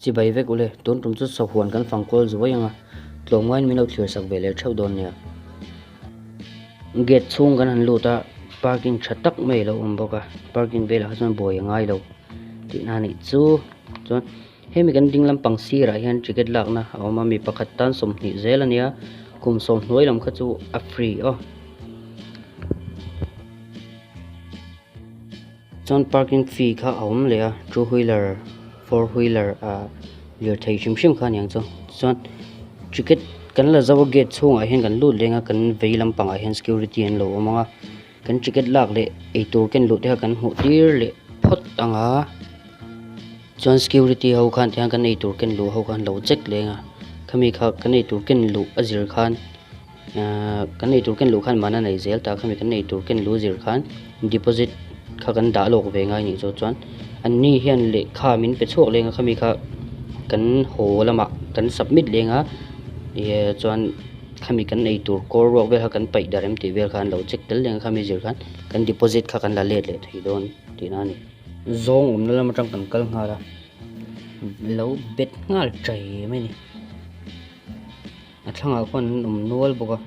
Chibai vek ule, tun tum chu sawk huan kan fang kual zuai anga, tlawm ngaiin min lo thlir sak ve leh theuh dawn nia. Gate chhung kan han lut a, parking tha tak mai lo awm bawk a, parking vel ah chuan bawi a ngai lo tih na nih chu. Chuan hemi kan ding lam pang sir ah hian ticket lak na a awm a, mi pakhat tan sawmhnih zel a nia, kum sawm hnuai lam kha chu a free aw. Chuan parking fee kha a awm leh a two wheeler four wheeler ah lirthei hrim hrim kha a niang chu chuan ticket kan la zo a gate chhung ah hian kan lut leng a kan vei lam pang ah hian security an lo awm ang a kan ticket lak leh eitur ken luh te kha kan hmuh tir leh phawt ang a chuan security ho khan tiang kan eitur ken luh ho kha an lo check leng a khami kha kan eitur ken luh a zir khan-- Kan eitur ken luh khan mahna nei zel ta kha mi kan eitur ken luh zir khan deposit kha kan dah lawk ve ngai nih chu chuan anni hian lehkha min pe chhuak leng a kha mi kha kan haw lamah kan submit leng a eee chuan kha mi kan eitur kawr ruak vel kha kan paih darh em tih vel kha an lo check tel leng a kha mi zir khan kan deposit kha kan la let leh thei dawn tih na a ni zawng awmna lam atang kan kal nghal a lo bet nghal ṭai mai a ni. A thlangah khuan an awm nual bawk a.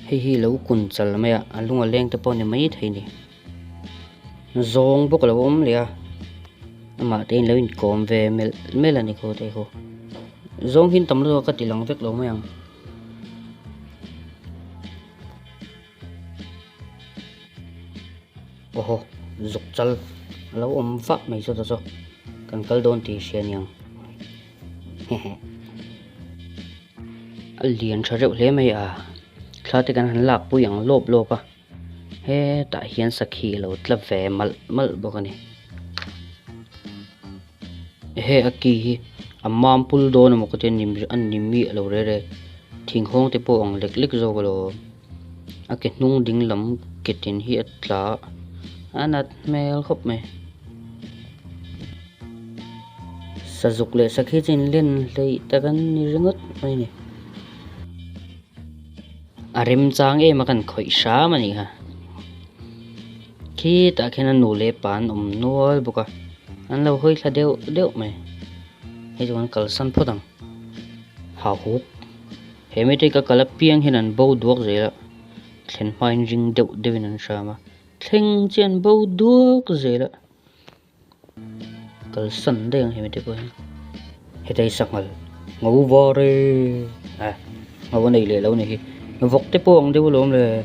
Hei hi lo kun chal mai a, a lunga leng te pawh a ni maithei ni. Zawng bawk a lo awm leh a, amah te in lo inkawm ve melh melh a ni kho thei kho. Zawng hi an tam lutuk a ka tih lang vek lo mai ang. Oho, zuk chal a lo awm fak mai chu ta chu, kan kal dawn tih a hria aniang. Hehe. A lian tha reuh hle mai a, thla te kan han lak pui ang lawp lawp a, hetah hian sakhi a lo tla ve malh malh bawk a ni. Ehe a ki hi a mam pul dawn amaw ka ti a, nim a nim mi a lo rei rei thing hawng te pawh ang lek lek zawk a lo awm a ke hnung ding lam ke tin hi a tla a nat hmel khawp mai. Sazuk leh sakhi chu inlen hleih tak an ni ringawt mai ni. A remchang em a kan khawih hram a nih kha Khitah khian a nu leh pa an awm nual bawk a, an lo hawi thla deuh deuh mai. Hei chu kan kalsan phawt ang. Hahuk. He mite ka kal apiang hian an bo duak zel a, thlen hmain ring deuh deuhin an hram a, thleng chi an bo duak zel a. kalsan daih ang hemi te pawhin hetiai sangha ngo var e a ngo a nei leh lo ni hi vawk te pawh ang deuh a lo awm leh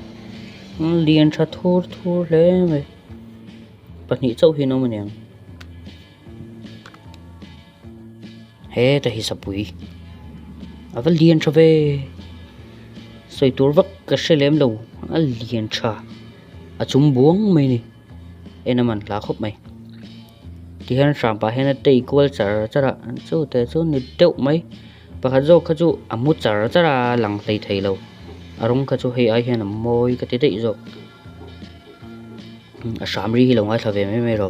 umm lian tha thur thur hle mai pahnih chauh hi an awm a nia heta hi sapuii ava lian tha ve sawi tur vak ka hre lem lo a lian tha a chum buang mai a ni. en a man tla khawp mai tihian hram pah hian a tei kual char char a an chute chu ni deuh mai pakhat zawk kha chu a hmu char char a a lang hlei thei lo a rawng kha chu hei ai hian a mawi ka ti daih zawk a hram ri hi lo ngaithla ve mai mai lo.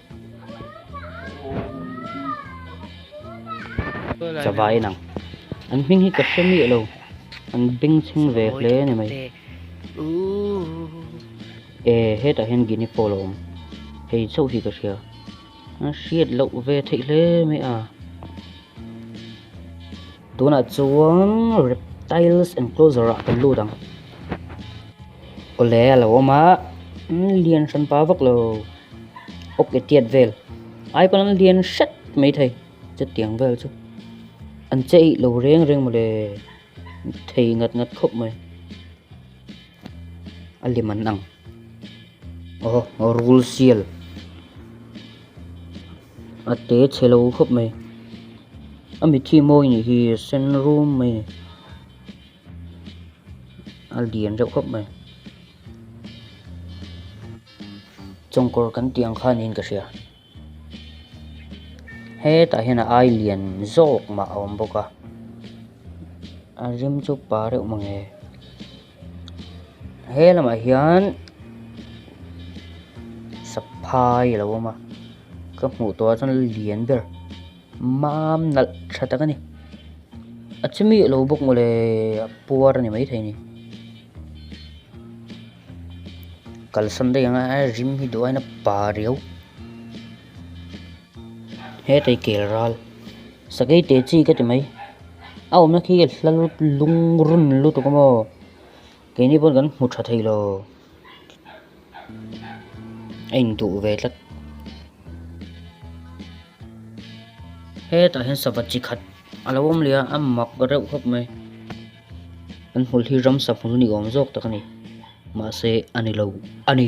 chava in ang an hming hi ka hre miah lo an beng chhing ve hle ni mai e hetah hian gini pawl a awm hei chauh hi ka hria a hriat loh ve theih hle mai a. Tunah chuan reptiles enclosure ah kan lut ang awle a lo awm a lian hran pa vak lo awk e tiat vel ai kawng an lian hret mai thei chutiang vel chu an che eih lo reng reng mawle thei nghat nghat khawp mai a lem an ang aw rul sial. A te che lo khawp mai. A mithi mawi nih hi sen rum mai ni. A lian reuh khawp mai. Chawngkawr kan tih ang kha niin ka hria. Hetah hian a ai lian zawk mah a awm bawk a. A rim chu pa reuh mawngê. he lamah hian saphai a lo awm a ka hmuh tur ah chuan lian ber mam nalh tha tak a ni a chu mih loh bawk mawle a puar a ni mai thei a ni kalsan daih ang a rim hi duai na pariu. Hetei kel ral sakei teh chi ka ti mai. A awmna khi ka hla lut lung run lutuk a maw? Keini pawn kan hmu tha thei lo. A induh ve tlat. Hetah hian sava chi khat a lo awm leh a, a mak reuh khawp mai. Kan hmul hi ramsa hmul ni awm zawk tak a ni. Mahse a ni lo a ni.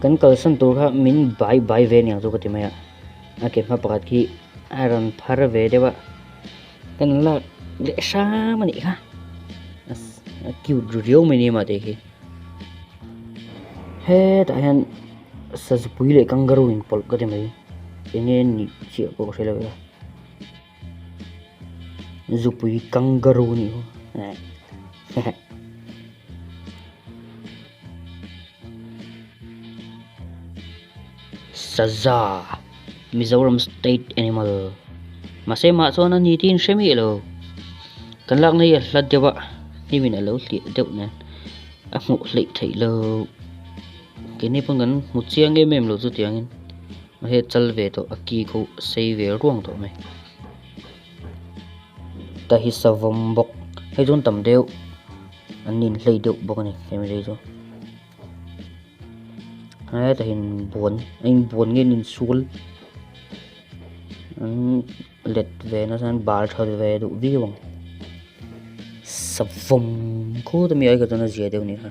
Kan kalsan tur kha min bai bai ve aniang chu ka ti mai a, a ke hma pakhat khi a rawn phar ve deuh a, ka rawn lak leh hram anih kha, a cute ru riau mai ni mah tei khi. Hetah hian sazupui leh kangaroo in pawlh ka ti mai, enge nih chiah pawh ka hre lo a. Zupui kangaroo nih hu eh hehe. Saza Mizoram state animal Mase mah chuan an ni tin hre mi lo Kan lak na hi a hla deuh a Hnimin alo hliah deuh nen a hmuh hleih theih lo Kei ni pawn kan hmu chiang em em lo chutiangin Mahea chal ve tawh a ki kho sei ve ruang tawh mai ta hi savawm bawk hei chuan tam deuh an inhlei deuh bawk a ni family chu heta hin buan a in buan nge in sul an let ve na san bal tha ve duh viau ang savawm kho ta mi ai kha chuan a zia deuh a ni kha.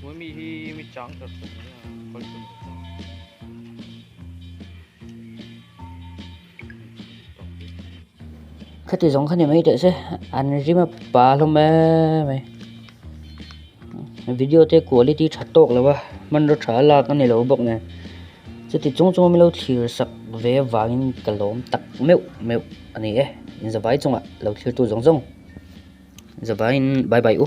Hmui mi hi mi chang tak tak ni a kal chum khati zong khani mai te se an rima pa lo me me video te quality tha tok lawa man ro tha la ka ni lo bok ne chuti chung chung mi lo thlir sak ve vangin ka lawm tak meuh meuh ani e in zavai chunga lo thlir tu zong zong zavai in bye bye u